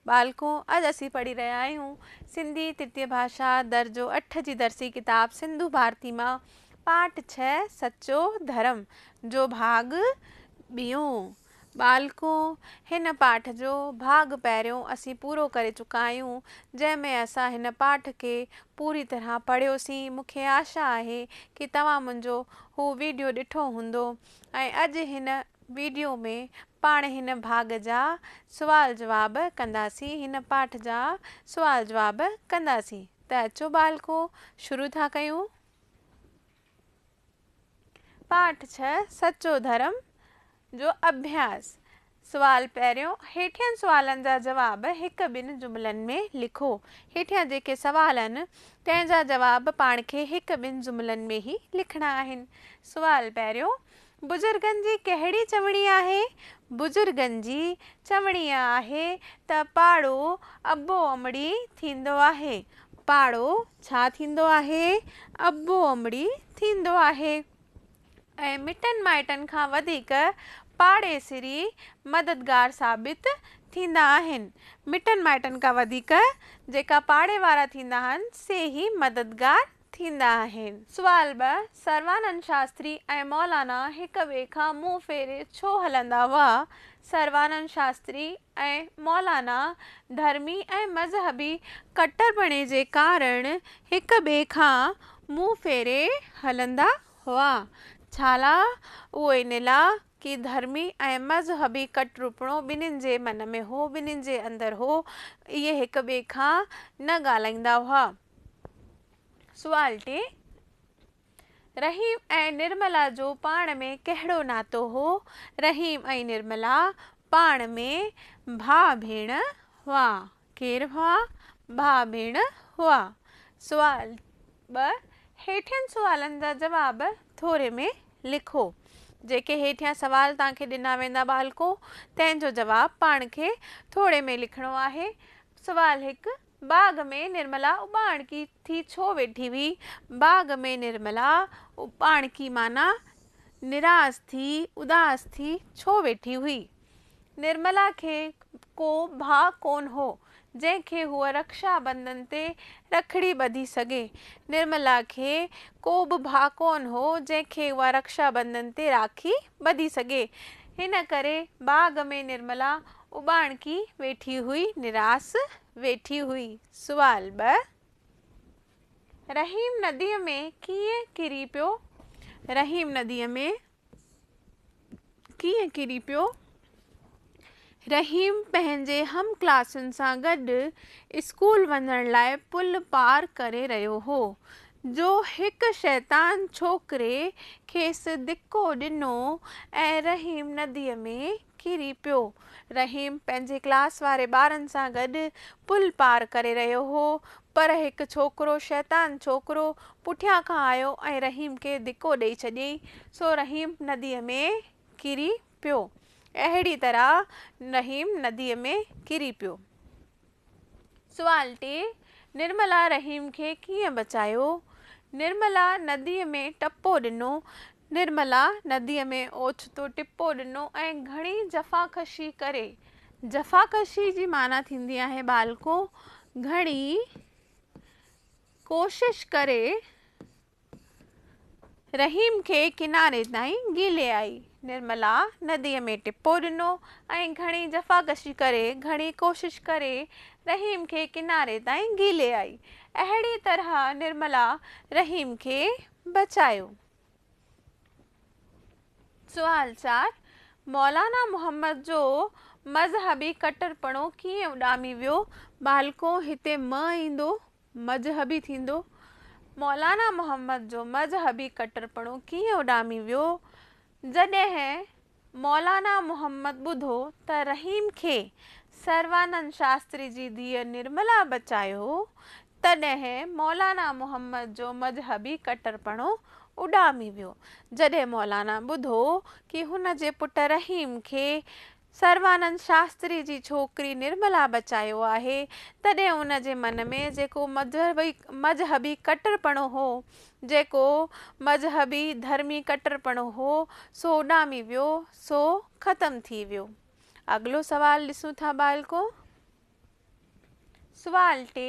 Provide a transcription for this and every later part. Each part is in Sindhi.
ٻالڪون! اڄ اسين پڙهي رهيا آهيون سنڌي ترتية ڀاشا درجو اٺ جي درسي ڪتاب سنڌو ڀارتي مان پاٺ ڇهه سچو ڌرم جو ڀاڳ ٻيون. ٻالڪون! هن پاٺ جو ڀاڳ پهريون اسين پورو ڪري چڪا آهيون، جنهن ۾ اسان هن پاٺ کي پوري طرح پڙهيوسين. مون کي آشا آهي ڪي توهان منهنجو هو ويڊيو ڏٺو هوندو ۽ اڄ هن. ويڊيو ۾ پاڻ هن ڀاڳ جا سوال جواب ڪنداسين هن پاٺ جا سوال جواب ڪنداسين ته اچو ٻالڪو شروع ٿا ڪيون. پاٺ ڇهه سچو ڌرم جو اڀياس سوال پهريون هيٺين سوالن جا جواب هڪ ٻن جملن ۾ لکو هيٺيان جيڪي سوال آهن تنهن جا جواب پاڻ کي هڪ ٻن جملن ۾ ئي لکڻا آهن سوال پهريون بزرگن جي ڪهڙي چوڻي آهي؟ بزرگن جي چوڻي آهي ته پاڙو ابو امڙي ٿيندو آهي. پاڙو ڇا ٿيندو آهي؟ ابو امڙي ٿيندو آهي ۽ مٽن مائٽن کان وڌيڪ پاڙيسري مددگار ثابت ٿيندا آهن. مٽن مائٽن کان وڌيڪ جيڪا پاڙي وارا ٿيندا آهن سي ئي مددگار ٿيندا آهن. سوال ٻه، سروانند شاستري ۽ مولانا هڪ ٻئي کان منهن ڦيري ڇو هلندا هئا؟ سروانند شاستري ۽ مولانا ڌرمي ۽ مذهبي ڪٽرپڻي جي ڪارڻ هڪ ٻئي کان منهن ڦيري هلندا هئا. ڇالاء؟ اهو ان لاء ڪي ڌرمي ۽ مذهبي ڪٽرپڻو ٻنهين جي من ۾ هو، ٻنهين جي اندر هو، اهي هڪ ٻئي کان نه ڳالهائيندا هئا. سوال ٽي، رحيم ۽ نرملا جو پاڻ ۾ ڪهڙو ناتو هو؟ رحيم ۽ نرملا پاڻ ۾ ڀاء ڀيڻ هئا. ڪير هئا؟ ڀاء ڀيڻ هئا. سوال ٻه، هيٺين سوالن جا جواب ٿوري ۾ لکو. جيڪي هيٺيان سوال توهان کي ڏنا ويندا ٻالڪو تنهن جو جواب پاڻ کي ٿوري ۾ لکڻو آهي. سوال هڪ، باغ ۾ نرملا اٻاڻڪي ٿي ڇو ويٺي هئي؟ باغ ۾ نرملا اٻاڻڪي معنيٰ نراس ٿي، اداس ٿي ڇو ويٺي هئي؟ نرملا کي ڪو ڀاء ڪونه هو، جنهن کي هوء رڪشا بنڌن تي رکڙي ٻڌي سگهي. نرملا کي ڪو به ڀاء ڪونه هو، جنهن کي اها رڪشا بنڌن تي راکي ٻڌي سگهي. ان ڪري باغ ۾ نرملا اٻاڻڪي ويٺي هئي، نراس ويٺي هئي. سوال ٻه، رحيم نديء ۾ ڪيئن ڪري پيو؟ رحيم نديء ۾ ڪيئن ڪري پيو؟ رحيم پنهنجي هم ڪلاسين سان گڏ اسڪول وڃڻ لاء پل پار ڪري رهيو هو، جو هڪ شيطان ڇوڪري کيس ڌڪو ڏنو ۽ رحيم نديء ۾ ڪري پيو. رحيم پنهنجي ڪلاس واري ٻارن سان گڏ پل پار ڪري رهيو هو، پر هڪ ڇوڪرو شيطان ڇوڪرو پٺيان کان آيو ۽ رحيم کي ڌڪو ڏئي ڇڏيائين، سو رحيم نديء ۾ ڪري پيو. اهڙي طرح رحيم نديء ۾ ڪري پيو. سوال ٽي، نرملا رحيم کي ڪيئن بچايو؟ نرملا نديء ۾ ٽپو ڏنو. نرملا نديء ۾ اوچتو ٽپو ڏنو ۽ گهڻي جفاڪشي ڪري. جفاڪشي جي معنيٰ ٿيندي آهي ٻالڪو گهڻي ڪوشش ڪري. رحيم کي ڪناري تائين گهلي آئي. نرملا نديء ۾ ٽپو ڏنو ۽ گهڻي جفاڪشي ڪري، گهڻي ڪوشش ڪري رحيم کي ڪناري تائين گهلي آئي. اهڙيء طرح نرملا رحيم کي بچايو. سوال چار، مولانا محمد جو مذهبي ڪٽرپڻو ڪيئن اڏامي ويو؟ ٻالڪو، هتي م ايندو، مذهبي ٿيندو، مولانا محمد جو مذهبي ڪٽرپڻو ڪيئن اڏامي ويو، جڏهن مولانا محمد ٻڌو ته رحيم کي سروانند شاستري جي ڌيء نرملا بچايو، تڏهن مولانا محمد جو مذهبي ڪٽرپڻو اڏامي ويو، جڏهن مولانا ٻڌو ڪي هن جي پٽ رحيم کي سروانند شاستري جي ڇوڪري نرملا بچايو آهي، تڏهن ان جي من ۾ جيڪو مذهبي مذهبي ڪٽرپڻو هو، جيڪو مذهبي ڌرمي ڪٽرپڻو هو، سو اڏامي ويو، سو ختم ٿي ويو. اڳلو سوال ڏسون ٿا ٻالڪو! سوال ٽي،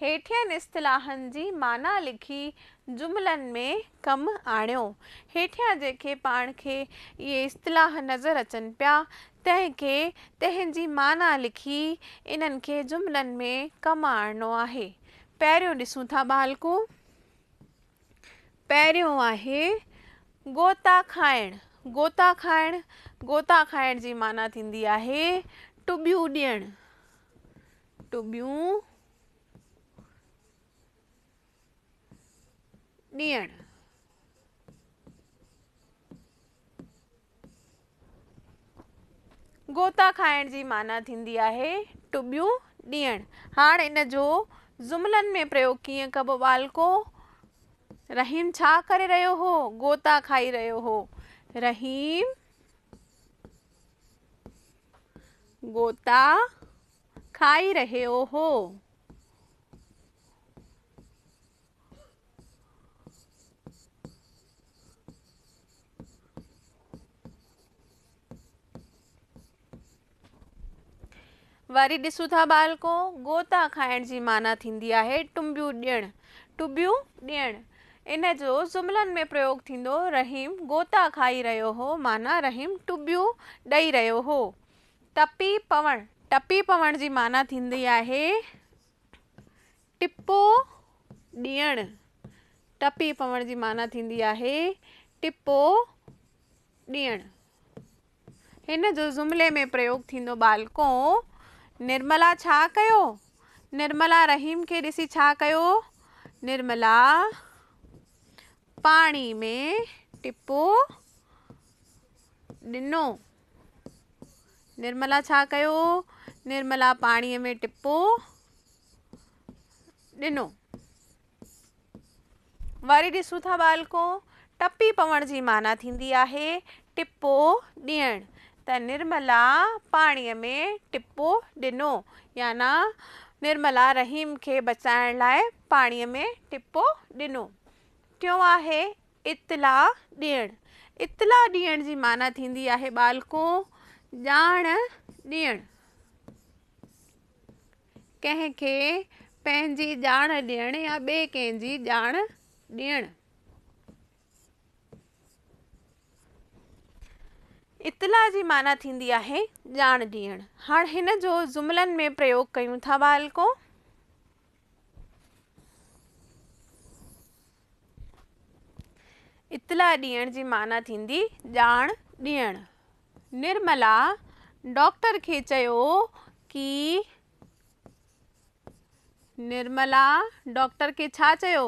هيٺين اصطلاحن جي معنيٰ لکي جملن ۾ ڪم آڻيو. هيٺيان جيڪي پاڻ کي اهي اصطلاح نظر اچن پيا، تنهن کي تنهن جي معنيٰ لکي انهن کي جملن ۾ ڪم آڻڻو آهي. پهريون ڏسون ٿا ٻالڪو. پهريون آهي غوطا کائڻ، غوطا کائڻ، غوطا کائڻ جي معنيٰ ٿيندي آهي ٽٻيون ڏيڻ، ٽٻيون ڏيڻ. غوطا کائڻ جي معنيٰ ٿيندي آهي ٽٻيون ڏيڻ. هاڻ ان جو جملن ۾ پريوگ ڪيئن ڪبو؟ ٻالڪو، رحيم ڇا ڪري رهيو هو؟ غوطا کائي رهيو هو. رحيم غوطا کائي رهيو هو. وري ڏسون ٿا ٻالڪو گوتا کائڻ جي معنيٰ ٿيندي آهي ٽنبيون ڏيڻ ٽبيون ڏيڻ ان جو جملن ۾ پريوگ ٿيندو رحيم گوتا کائي رهيو هو معنيٰ رحيم ٽبيون ڏئي رهيو هو ٽپي پوڻ ٽپي پوڻ جي معنيٰ ٿيندي آهي ٽپو ڏيڻ، ٽپي پوڻ جي معنيٰ ٿيندي آهي ٽپو ڏيڻ. هن جو جملي ۾ پريوگ ٿيندو ٻالڪو، نرملا ڇا ڪيو؟ نرملا رحيم کي ڏسي ڇا ڪيو؟ نرملا پاڻي ۾ ٽپو ڏنو. نرملا ڇا ڪيو؟ نرملا پاڻي ۾ ٽپو. ڏنو. وري ڏسون ٿا ٻالڪو، ٽپي پوڻ جي معنيٰ ٿيندي آهي ٽپو ڏيڻ، ته نرملا پاڻيء ۾ ٽپو ڏنو يعني نرملا رحيم کي بچائڻ لاء پاڻيء ۾ ٽپو ڏنو. ٽيون آهي اطلاع ڏيڻ، اطلاع ڏيڻ جي معنيٰ ٿيندي آهي ٻالڪو ڄاڻ ڏيڻ. ڪنهن کي پنهنجي ڄاڻ ڏيڻ يا ٻئي ڪنهن جي ڄاڻ ڏيڻ. اطلاع جي معنيٰ ٿيندي آهي ڄاڻ ڏيڻ. هاڻ هن جو جملن ۾ پريوگ ڪيون ٿا ٻالڪو. اطلاع ڏيڻ جي معنيٰ ٿيندي ڄاڻ ڏيڻ. نرملا ڊاڪٽر کي چيو ڪي نرملا ڊاڪٽر کي ڇا چيو؟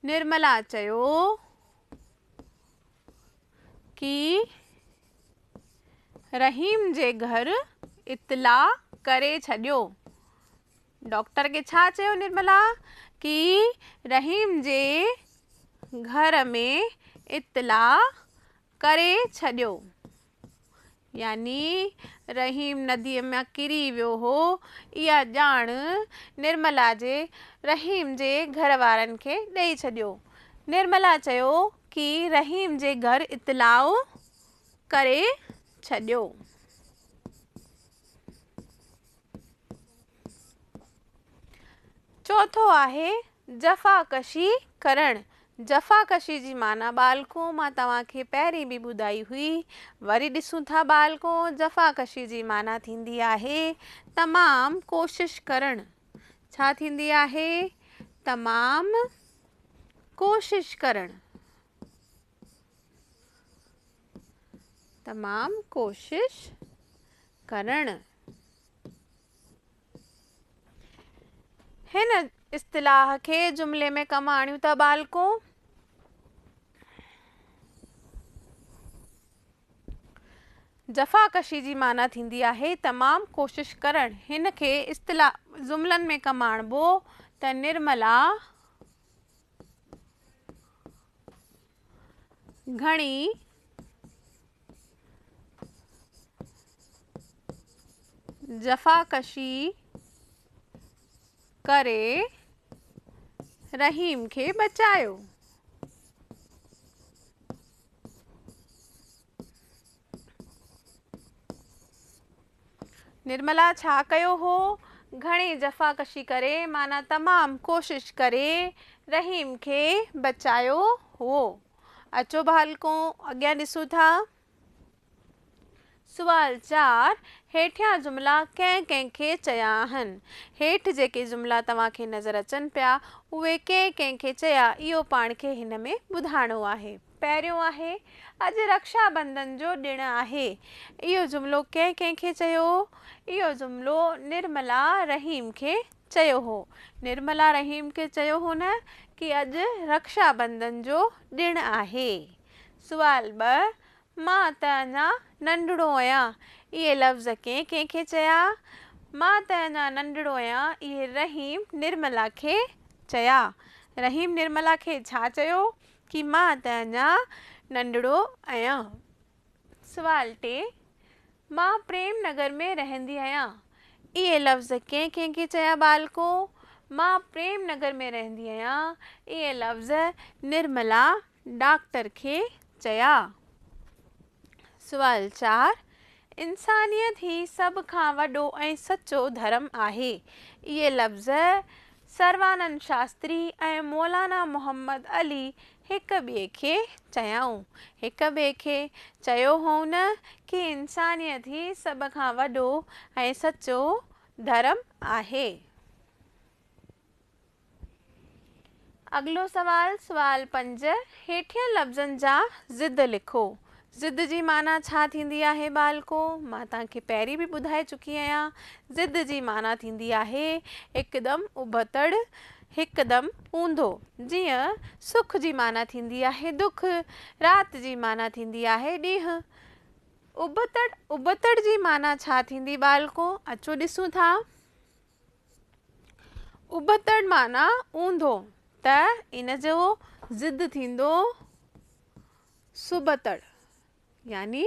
نرملا چيو ڪي رحيم جي گهر اطلاع ڪري ڇڏيو. ڊاڪٽر کي ڇا چيو نرملا ڪي رحيم جي گهر ۾ اطلاع ڪري ڇڏيو يعني رحيم ندي ۾ ڪري ويو هو اها ڄاڻ نرملا جي رحيم جي گهر وارن کي ڏئي ڇڏيو نرملا چيو ڪي رحيم جي گهر اطلاع ڪري ڇڏيو. چوٿون آهي جفا ڪشي ڪرڻ. جفا ڪشي جي معنيٰ ٻالڪو مان توهان کي پهرين به ٻڌائي هئي. وري ڏسون ٿا ٻالڪو جفا ڪشي جي معنيٰ ٿيندي آهي تمام ڪوشش ڪرڻ. ڇا ٿيندي آهي؟ تمام ڪوشش ڪرڻ. تمام ڪوشش ڪرڻ. هن اصطلاح کي جملي ۾ ڪم آڻيون ٿا ٻالڪو جفاڪشي جي معنيٰ ٿيندي آهي تمام ڪوشش ڪرڻ هن کي اصطلاح جملن ۾ ڪم آڻبو ته نرملا گهڻي جفاڪشي ڪري رحيم کي بچايو. نرملا ڇا ڪيو هو؟ گهڻي جفاڪشي ڪري معنيٰ تمام ڪوشش ڪري رحيم کي بچايو هو. اچو ڀالڪون اڳيان ڏسون ٿا. سوال چار، هيٺيان جملا ڪنهن ڪنهن کي چيا آهن؟ هيٺ جيڪي جملا توهان کي نظر اچن پيا، اهي ڪنهن ڪنهن کي چيا اهو پاڻ کي هن ۾ ٻڌائڻو آهي. پهريون آهي، اڄ رڪشا بندن جو ڏڻ آهي. اهو جملو ڪنهن ڪنهن کي چيو هو؟ اهو جملو نرملا رحيم کي چيو هو. نرملا رحيم کي چيو هو نه ڪي اڄ رڪشا بندن جو ڏڻ آهي. سوال ٻه، مان ته اڃا ننڍڙو اهيان اهي لفظ ڪنهن ڪنهن کي چيا؟ مان ته اڃا ننڍڙو اهيان اهي رحيم نرملا کي چيا. رحيم نرملا کي ڇا چيو؟ چي مان ته اڃا ننڍڙو آهيان. سوال ٽي، مان پريم نگر ۾ رهندي آهيان. اهي لفظ ڪنهن ڪنهن کي چيا ٻالڪو؟ مان پريم نگر ۾ رهندي آهيان اهي لفظ نرملا ڊاڪٽر کي چيا. سوال چار، انسانيت هي سڀ کان وڏو ۽ سچو ڌرم آهي. اهي لفظ سروانند شاستري ۽ مولانا محمد علي هڪ ٻئي کي چيائون. هڪ ٻئي کي چيو هئون ڪي انسانيت هي سڀ کان وڏو ۽ سچو ڌرم آهي. اڳلو سوال، سوال پنج، هيٺين لفظن جا ضد لکو. ضد جي معنيٰ ڇا ٿيندي آهي ٻالڪو؟ مان توهان کي پهرين به ٻڌائي چڪي آهيان. ضد جي معنيٰ ٿيندي آهي هڪدم ابتڙ، هڪدم اونڌو. جيئن، سک جي معنيٰ ٿيندي آهي دک، رات جي معنيٰ ٿيندي آهي ڏينهن. ابتڙ، ابتڙ جي معنيٰ ڇا ٿيندي ٻالڪو؟ اچو ڏسون ٿا. ابتڙ معنيٰ اونڌو ته ان جو ضد ٿيندو سبتڙ يعني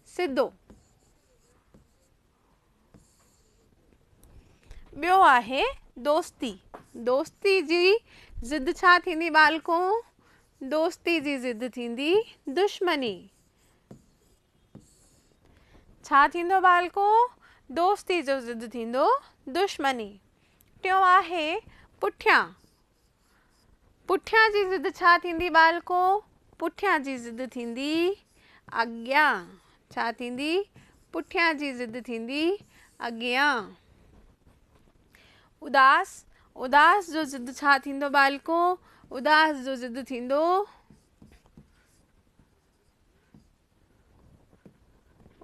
سڌو. ٻيو آهي دوستي، دوستي جي ضد ڇا ٿيندي ٻالڪو؟ دوستي جي ضد ٿيندي دشمني. ڇا ٿيندو ٻالڪو؟ دوستي جو ضد ٿيندو دشمني. ٽيون آهي پٺيان. پٺيان جي ضد ڇا ٿيندي ٻالڪو؟ پٺيان جي ضد ٿيندي اڳيان. ڇا ٿيندي؟ پٺيان جي ضد ٿيندي اڳيان. اداس، اداس جو ضد ڇا ٿيندو ٻالڪو؟ اداس جو ضد ٿيندو.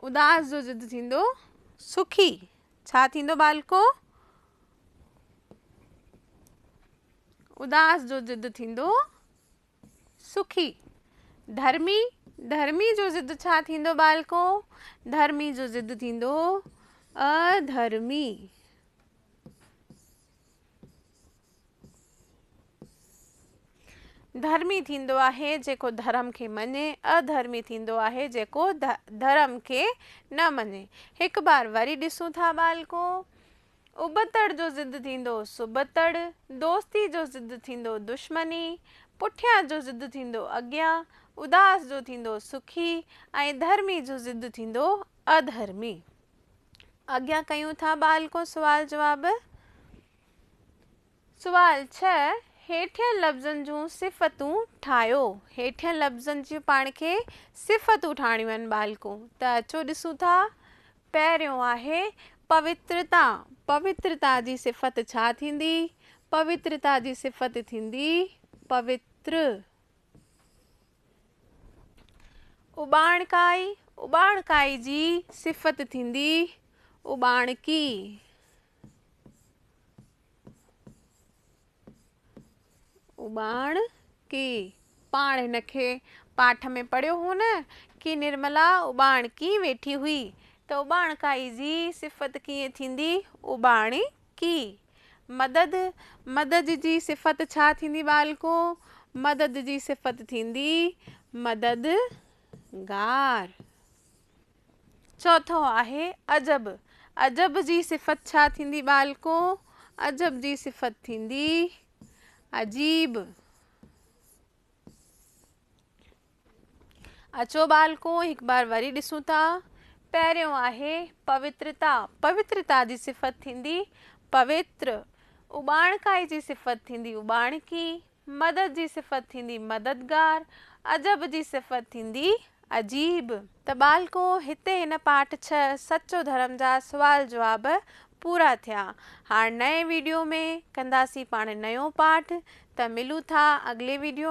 اداس جو ضد ٿيندو سکي، ڇا ٿيندو ٻالڪو؟ اداس جو ضد ٿيندو سکي. ڌرمي، ڌرمي جو ضد ڇا ٿيندو ٻالڪو؟ ڌرمي جو ضد ٿيندو اڌرمي. ڌرمي ٿيندو آهي جيڪو ڌرم کي مڃي، اڌرمي ٿيندو آهي جيڪو ڌرم کي نه مڃي. هڪ بار وري ڏسون ٿا ٻالڪو! ابتڙ جو ضد ٿيندو سبتڙ، دوستي جو ضد ٿيندو دشمني، پٺيان جو ضد ٿيندو اڳيان، اداس جو ٿيندو سکي ۽ ڌرمي جو ضد ٿيندو اڌرمي. اڳيان ڪيون ٿا ٻالڪو سوال جواب. سوال ڇهه هيٺين لفظن جون صفتون ٺاهيو. هيٺين لفظن جون پاڻ کي صفتون ٺاهڻيون آهن ٻالڪو ته اچو ڏسون ٿا پهريون آهي پوترتا پوترتا جي صفت ڇا ٿيندي پوترتا جي صفت ٿيندي پوتر. اٻاڻڪائي، اٻاڻڪائي جي صفت ٿيندي اٻاڻڪي. اٻاڻڪي، پاڻ هن کي پاٺ ۾ پڙهيو هو نه ڪي نرملا اٻاڻڪي ويٺي هئي ته اٻاڻڪائي جي صفت ڪيئن ٿيندي اٻاڻڪي. ڪي، مدد، مدد جي صفت ڇا ٿيندي ٻالڪو؟ مدد جي صفت ٿيندي مددگار. چوٿون آهي عجب، عجب جي صفت ڇا ٿيندي ٻالڪو؟ عجب جي صفت ٿيندي عجيب. اچو ٻالڪو هڪ بار وري ڏسون ٿا. پهريون آهي پوترتا. پوترتا جي صفت ٿيندي پوتر. اٻاڻڪائي جي صفت ٿيندي اٻاڻڪي. مدد جي صفت ٿيندي مددگار. عجب جي صفت ٿيندي عجيب. ته ٻالڪو هتي هن پارٽ ڇهه سچو ڌرم جا سوال جواب پورا ٿيا. هاڻ نئين ويڊيو ۾ ڪنداسين پاڻ نيون پاٺ. ته ملون ٿا اڳلي ويڊيو ۾.